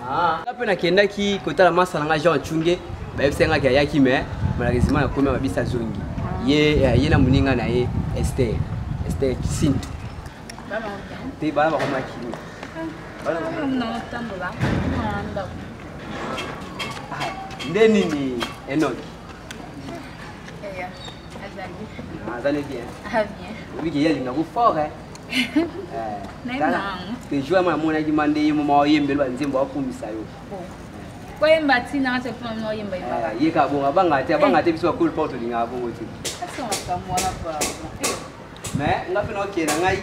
Ah. nga mpe nakendaki kotala masa na nga jean acunge bayebisaki ngaki ayaki me malheureusement nakomi ya babisa zongi ye eh, ye na moninga na ye ester ester kisinto te bana bakomaki ah, nde nini enoki azali bien oyebi ke ye alingako fort pejoa ma amonaki ma nde ye moma oyembeli banzembo akumisa yo koyemba ti nanga te mpona mino oyemba yembaka ye kaka bongo abanga te abanga te biso bakoli mpo tolingaka bongo te mais nga mpe naokende na ngai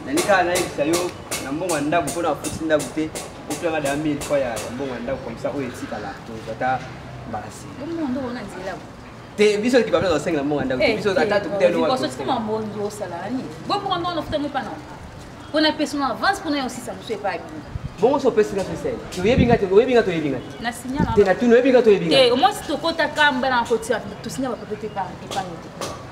nani kaka nayebisa yo na mbongo ya ndako mpo na afuti ndako te opianga da 1000 fois ya mbongo ya ndako komisa oyo etikala tozata mbala se te biso ekipa mpe tosengela mbongo ya ndako te biso ata tokutalosotikoma mbongi osala na nini boponga mbongo nafuta ngo pana mpo na pesi na avance mpo na yo sisa mosu epai bino bongo so opesi nga sosele toyebi nga te oyebi nga toyebi nga te na signala te na tuna oyebi nga toyebi nga te omwasi tokota kamba na kotia tosinya bapepe te epango te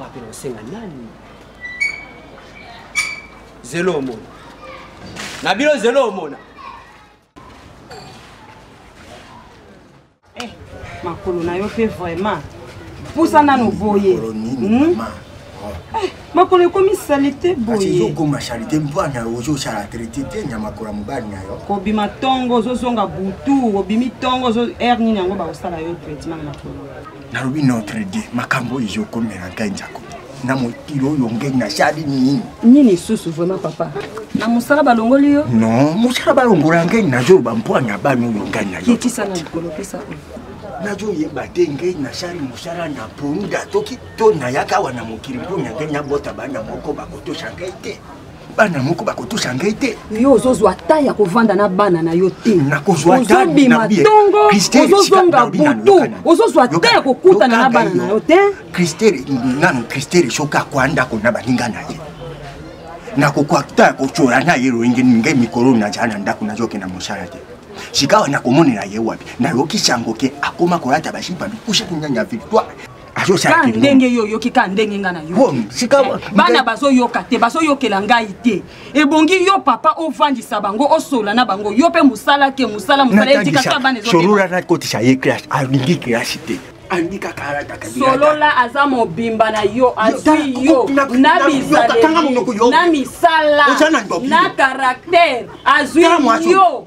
wapi na osenga nani zelo omona na bino zelo omona eh, makolo na yo mpe vraiment pusa nano boye hmm? eh, makolo ekomi salite boyeokoma salite mpona ozosala traite te na makolo ya mobali na yo kobima ntongo ozozonga butu obimi ntongo aire nini yango bakosala yo traitement na makolo nalobi notre dieu makambo oyo ezokomela ngai njako na mokili oyo ngeni nasali nini nini lisusu vraiment papa na mosala balongoli yo non mosala balongola ngeni nazoloba mpwani ya bana oyo ngani nayokisa na likolo pesa oyo nazoyeba te ngei nasali mosala na poni datoki to nayaka awa na mokili mpo na ngei nabota bana moko bakotosa ngei te bana moko bakotusa ngai te yo ozozwa ta ya kovanda na bana na yo te ozobima ntongo ozozonga butu ozozwa ta ya kokutana na bana na yo te kristere nanu kristere soki akwa ndako na baninga na ye nakokoka ta ya kotyola na ye loyenge ngai mikolo nazala na ndako nazoke na mosala te sikawa nakomonela ye wapi nayoki sango ke akoma kolata basipa bikusa kinyanya victoire ka ndenge yo oyoki ka ndenge ngai nayokiebana bazoyoka te bazoyokela ngai te ebongi yo papa ovandisa bango osola na bango yo mpe mosala ke mosala mosala etikaka bana ezosolola nakotisa ye classe alingi classe te solola aza mobimba na yo azwi yo na bizaleli na misala na karaktere azwi yo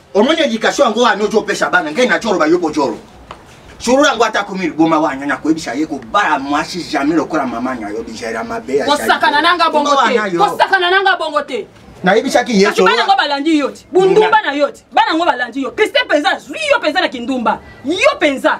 omoni edikatio yango wana ozo opesa bana ngai naco oloba yo bojolo solo yango ata komi liboma wana nakoyebisa ye kobala mwasi jamai lokola mama na yo bizela mabe kosakana nanga bongo te kosakana nanga bongo te nayebisaki yesu bana yango balandi yo te bundumba na yo te bana yango balandi yo kriste mpenza azwi yo mpenza na kindumba yo mpenza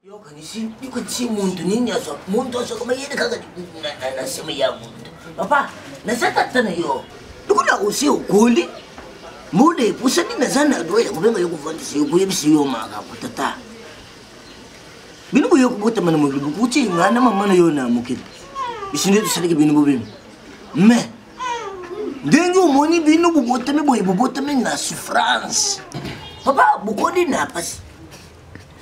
yokanisi ndiko ti muntu nini aza muntu azoka bayede kaka na nsima ya muntu papa naza tata na yo ndiko na osi okoli mbula epusani naza na dwa ya kobenga yo kovandisa yo koyebisa yo makambo tata bino boye kobotama na mokili bokuti ngai na mama na yo na mokili biso nde tosalaki bino bobemi mais ndenge omoni bino bobotami boye bobotami na souffrance papa bokoli na pasi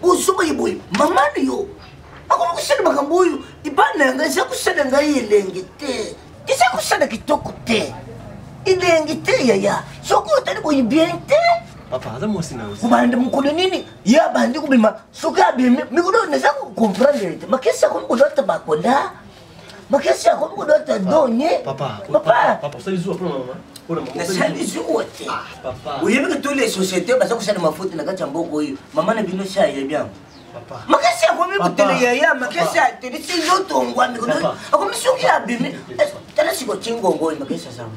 bozoba ye boye mama na yo akomi kosala makambo oyo libala na yangai eza kosala ngai elengi te eza kosala kitoko te elengi te yaya soki otali boye bien te kobanda mokolo nini ye abandi kobima soki abimi mikolo naza kocomprendre te makesi akomi kolata bakola bakesi akomi kodota donye nasali zuwa te oyebi ke tous les société baza kosala mafuta na kati ya mboka oyo mama na bino si ayebi yango makasi akomi kotele yaya makasi ateli sinzotongwami akomi soki abimi tala sikotingongo oyo makasi azango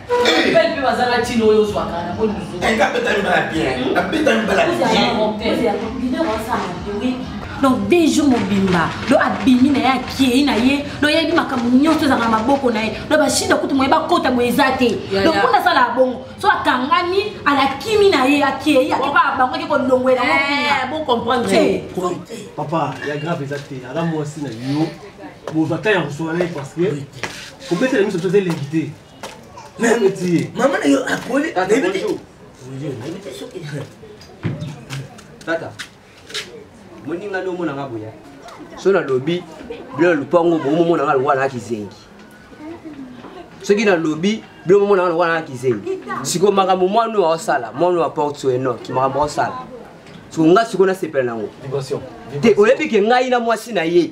belle mpe bazanga ntina oyo ozwaka na boni nga betami bala bien abetami bala bien donc deux jours mobimba do abimi na ye akei na ye do yebi makambo nyonso ezalaka na maboko na ye do bashida kutu moye bakota boye eza te donc mpo nasalaka bongo so akangami alakimi na ye akei akebaka bango ake kolongwela bocomprendre papa ya grave eza te aza mwasi na yo bozwa ta ya koswana ye parce que kobetela miso toza elengi te mama na yo akoli tata moninga nde omonanga boya so nalobi bilo lupango bomomonanga lokola na kizengi soki nalobi bilo momonanga lokola na kizengi sikoyo makambo mwana oyo aosala mwana oyo aporte so enoki makambo aosala sikoyo ngai sikoyo nasepela nango te oyebi ke ngai na mwasi na ye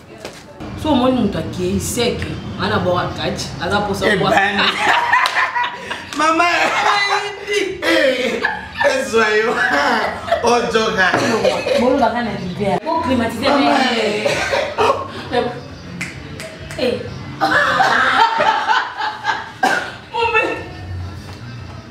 so omoni moto akei seke nga na bora kati aza posa eh mama ezwa eh, eh, yo ojoka bolobaka na libea boclimatise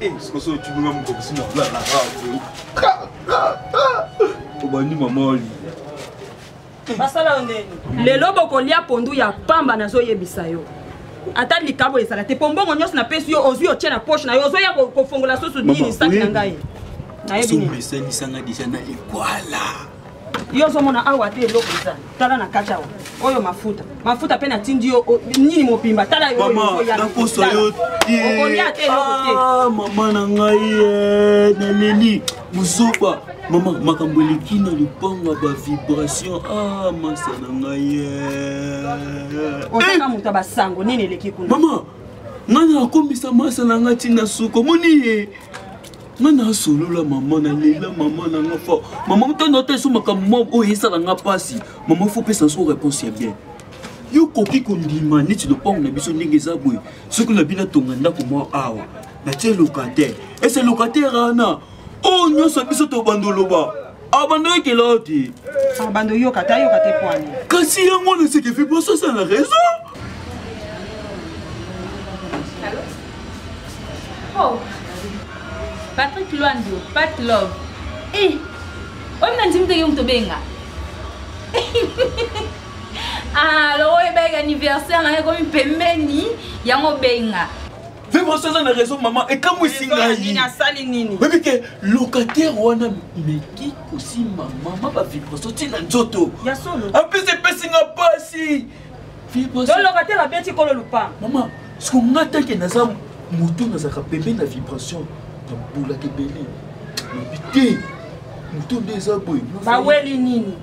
Eh, sikoyo soki otuni nga moto akosi na bla na radio obandi mama olia basala yo ndeni lelo bokolia pondu ya pamba nazoyebisa yo ata likabo ezala te mpo mbongo nyonso napesi yo ozwi otye na poche na yo ozoya kofongola susu nini saki na ngai nayebi nini esangisanga deja na ekwala yo ozomona awa te eloko eza tala na kati awa oyo mafuta mafuta mpe natindi yo nini mobimba tala nakosa yo teokolia te eloko te ah, mama na ngai eh, naleli mozoba mama makambo eleki na lopango ya bavibration ah masa na ngai eh. ozaka eh! moto ya basango nini eleki kuna mama ngai nakombisa masa na ngai ntina suka omoni ye nga nasolola mama nalela mama na nga fo mama motani ata eso makambo mwa oyo esala nga mpasi mama fo pesa so réponse ya bien yo okoki kondima neti lopango na biso ndenge eza boye soki na bino atonga ndako mwa awa natie locataire ese locataire ana oyo nyonso biso tobanda oloba abandaki kelaa te abando yoka ta yoka te pwani kasi yango wana seke fi poso asala raison oh. patrick lwandio pat love e eh, oyo na ndimi teke moto obenga ah, alors oyo ebaki anniversaire na ekomi pembeni yango obenga vivre sans na raison mama ekamwisi ngaioyebi ke locataire wana meki kosimba mama bavibration ti na nzoto apesi epesi nga mpasi locataire abeti kolo lupa mama siko nga tanke naza motu nazalaka pembe na vibration nabulaka ebele nabi te motu nde eza boye baweli nini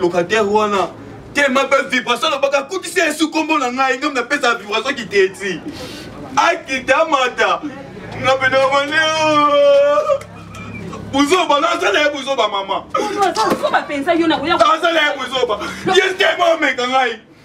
locataire wana tema mpe vibration nabaka akutisi yesu nkombo na ngai ngambi napesa vibration kiteti akita mata napenaone buzoba nazala ye buzoba mama azala ye buzoba ye tema omeka ngai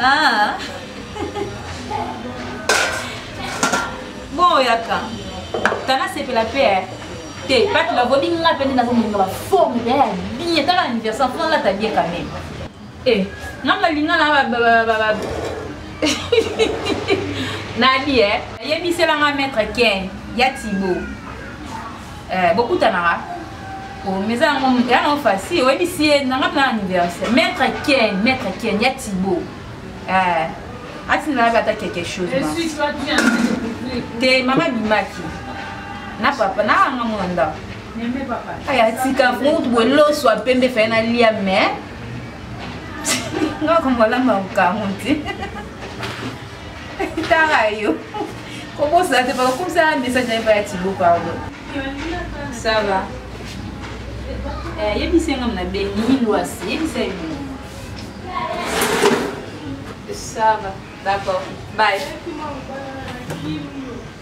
Ah. bon yaka tana sepela pe eh. te pati navomi nga mpe nde nazomoninga baforme mpe ya bien tala anniversaire mpo nalata bien quand même e eh, nga nalinga na nadi e eh. ayebiselanga maître ken ya tibo eh, bokutanaka oh, meza yango ya nango facile oyebisi ye nanga na anniversaire maître ken maître ken ya tibo eh, atindela be ata quelque chose te mama bimaki na papa na anga mona ndako aya tika fungutu boye loso apembe faye nalia mais ngakomolanga mokango te tara yo kobosana te bakakomisa message naye baya tibo pardon ça va eh, yebisa nga mna bengi lwasi yebisa ye bino ça va d'accord bye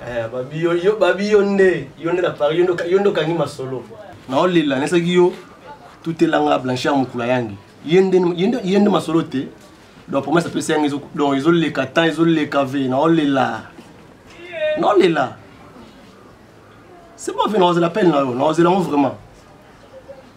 Eh, babi yo yo babi yo nde yo nde na paris yo nde okangi masolo naolela naesaki yo tutelanga blanchard mokula yangi ye nde masolo te donc promese apesi yangi donc ezoleka temps ezoleka ve naolela naolela c'est bon ve naozela pele na yo naozela yango vraiment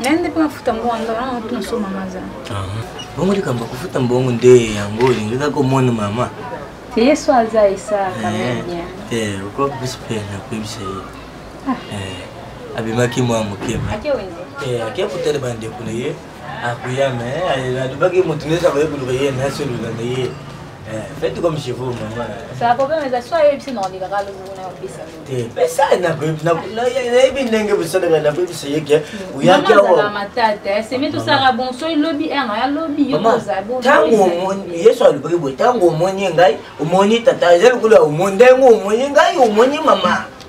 nayende mpe mafuta mbongo yango wana motu nasoma maza bongo likambo kofuta mbongo nde yango olingi kaka omona mama yesu aza esaka te okopesi mpe nakoyebisa ye abimaki mwa mokema ake kotala bandeko na ye akuya me eh, alobaki moto nyonso akoye koluka ye na solola na ye eh, fete comme chez vous mama te pesa nayebi ndenge bosalaka nakoyebisa ye ke oyakintango yesu alobaki boye ntango omoni ngai omoni tata eza lokola omoni ndenge omoni ngai omoni mama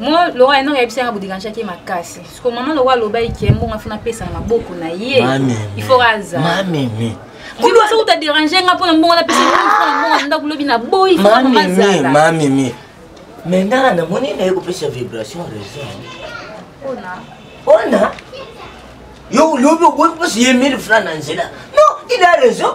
moi lora enor yebisa yanga boderangeaki ye makasi siko mama loko alobaki ke mbongo afi napesa na maboko na ye il faut azalmameme kudu asa kuta derange nga mpona mbongo napesa mbongo ndako lobi na boyi mameme me nga namoni naye kopesa vibration raison ona yo lobi oboyi kopesa ye 1000 franc na nzela non il a raison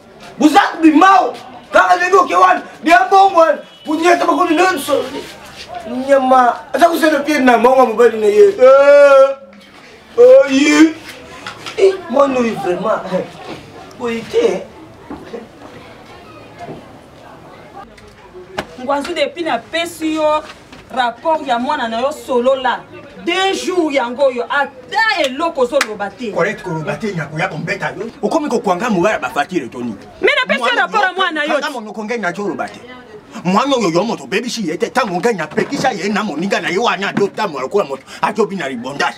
buzak bimao kaka ndenge oke wana bia bongo wana kunyata bakoni nyonso nyama aza kosala pie na mongo mobali na ye eh, oyi eh, mwana oyo vraiment boye te ngwanzu depuis napesi yo rapport ya mwana na yo solola deux jours yango oyo ata eloko ozoloba te correct koloba te nyako ya kombeta yo okomi kokwanga moya ya bafatire toni me napesi yo rapport ya mwana yo monoko ngai naco oloba te mwana oyo yo moto obebisi ye te ntango ngai napekisa ye na moninga na ye wana azotambola lokola moto azobi na libondage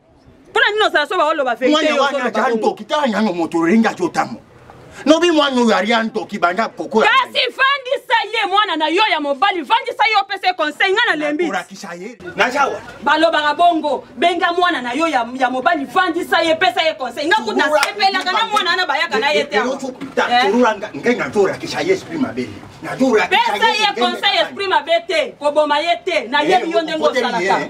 mpona nini ozala so baoloba veritewana wana aza ndoki tala nano moto olingi azo ntango nobi mwana oyo alia ndoki banda kokola kasi vandisa ye mwana na yo ya mobali vandisa ye opesa ye conseil ngai nalembiolakisa ye nazawa balobaka bongo benga mwana na yo ya, ya mobali vandisa ye pesa ye conseil ngai kutu nasepelaka na mwana wana bayaka na ye te eh? ngai nazolakisa ye esprit mabe pesa ye conseil esprit mabe te koboma ye te nayebi yo ndenge osalaka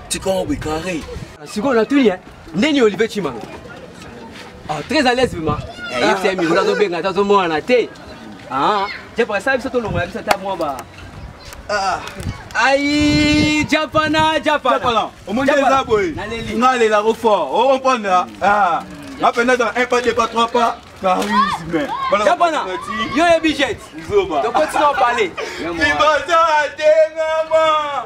tika obe carré sikoyo natuni eh? ndeni olive chimanga ah, très à l'aise vraiment eh, yebisa ye mikolo azobenga ata azomonana te ah, japaka sala biso tolongola biso ata mwa ba ah. ayi japana japana omoni eza boye nalelako fort okomprendre nga mpenza dans un pas deux pas trois pas charisme japana yo yebi jet tokotina opale ibazaa te mama